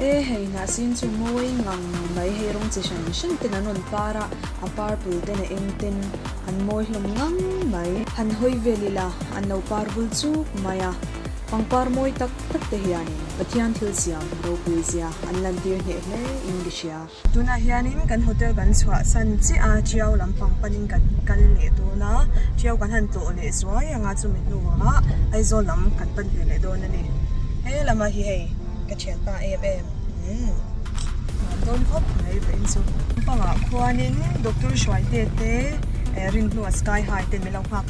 E hei hnahsin chu mawi ngang mai hei rawng chi hrang hrang ten an rawn par a, a purple ten a eng ten an mawi hlawm ngang mai. Han hawi vel ila, an lo par vul chuk mai a, pangpar mawi tak tak te hianin Pathian thil siam ropui zia an lantir hneh hle in ka hria. Tunah hianin kan hotel kan chhuah san chiah a, ṭiau lampang panin kan kal leh dawn a, ṭiau kan han tlawh leh zuai ang a, chumi hnuah Aizawl lam kan pan ve leh dawn a ni. He lama hi hei ka ṭhian ta em em, umm nuam dawn khawp mai vei chu. Lampangah khuanin Doctor Hruaite te, Rinhnuah Sky High te min lo nghak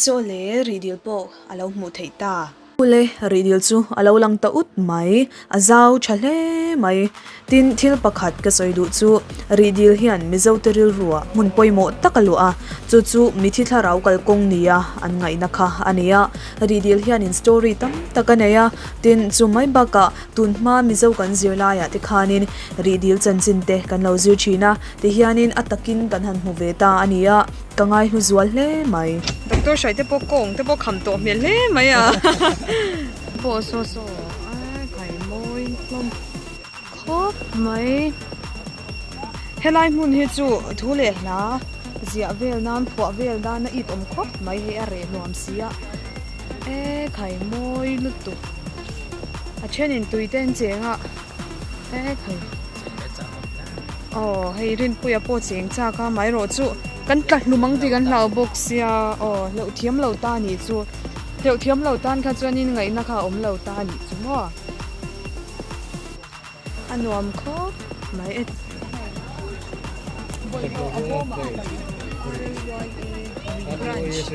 Saw le rihdil pawh a lo hmuh theih ta. Saw le rihdil chu a lo lang ta ut mai, a zau tha hle mai. Tin, thil pakhat ka sawi duh chu, rihdil hian Mizote rilruah hmun pawimawh tak a luah a, chu chu mithi thlarau kal kawng nia an ngaihna kha a ni a. Rihdil hianin story tam tak a nei a, tin, chu mai bakah tun hma Mizo kan zir laiah te khanin rihdil chanchin te kan lo zir thin a, ti hianin a takin kan han hmu ve ta a ni a. Ka ngai hnu zual hle mai. Doctor hrai te pawh kawng te pawh kham tawh hmel hle mai a. Pawh saw saw ai kai mawi hlawm khawp mai. Helai hmun hi chu thu leh hla ziah vel nan phuah vel nan a it awm khawp mai hi a reh nuam si a. E kai mawi lutuk. A thenin tui te an cheng a e kai. Aw, hei Rinpuia pawh chi eng chak a, mah erawh chu kan tla hlum ang tih kan hlau bawk sia. Aw, hleuh thiam lo ta ni chu, hleuh thiam lo tan kha chuanin ngaihna kha a awm lo ta ni chu maw? A nuam khawp mai e. Branch.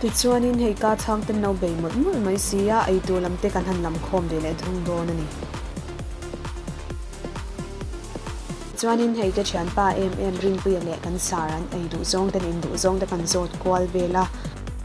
Tichuanin hei ka chhang ten lo bei mawlh mawlh mai si a, eitur lam te kan han lam khawm ve leh thung dawn a ni. Tichuanin hei ka thianpa em em Rinpuia leh kan sara an ei duh zawng ten in duh zawng te kan zawt kual vel a.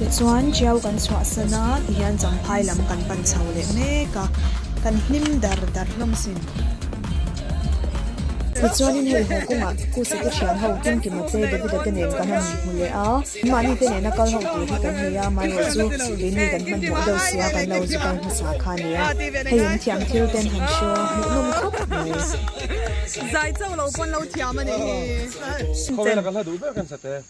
Tichuan, Ṭiau kan chhuah san a, tihian Champhai lam kan pan chho leh mek a, kan hnim dar dar hlawm sin. Tichuanin hei haw kawngah Khusate thian ho Kim Kima te, Davida te nen kan han hmu leh a, mahni te nena kal ho tur hi kan hmu a, amaherawh chu keini kan hmanhmawh deuh sia kan lo zuk ai hmasa kha a ni a, hei an thiam thil ten han hria hmuhnawm khawp mai. Zai chauh lo pawn lo thiam a ni hi.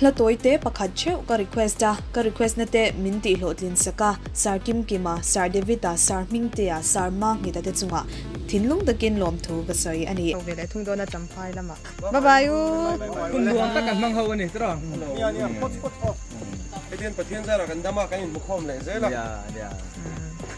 Hla tawi te pakhat theuh ka request a, ka request na te min tih hlawh tlin sak a, Sir Kim Kim a, Sir David a, Sir Hming Te a, Sir Ma Nghit a te chunga thinlung takin lawmthu ka sawi a ni. Chho ve leh thung dawn a Champhai lam ah. Bye bye u. Hun luang kha kan hmang ho a ni tura. Nia nia, pawt pawt aw. Hetian Pathian zara kan dam a kan in hmukhawm leh zel a. Nia nia.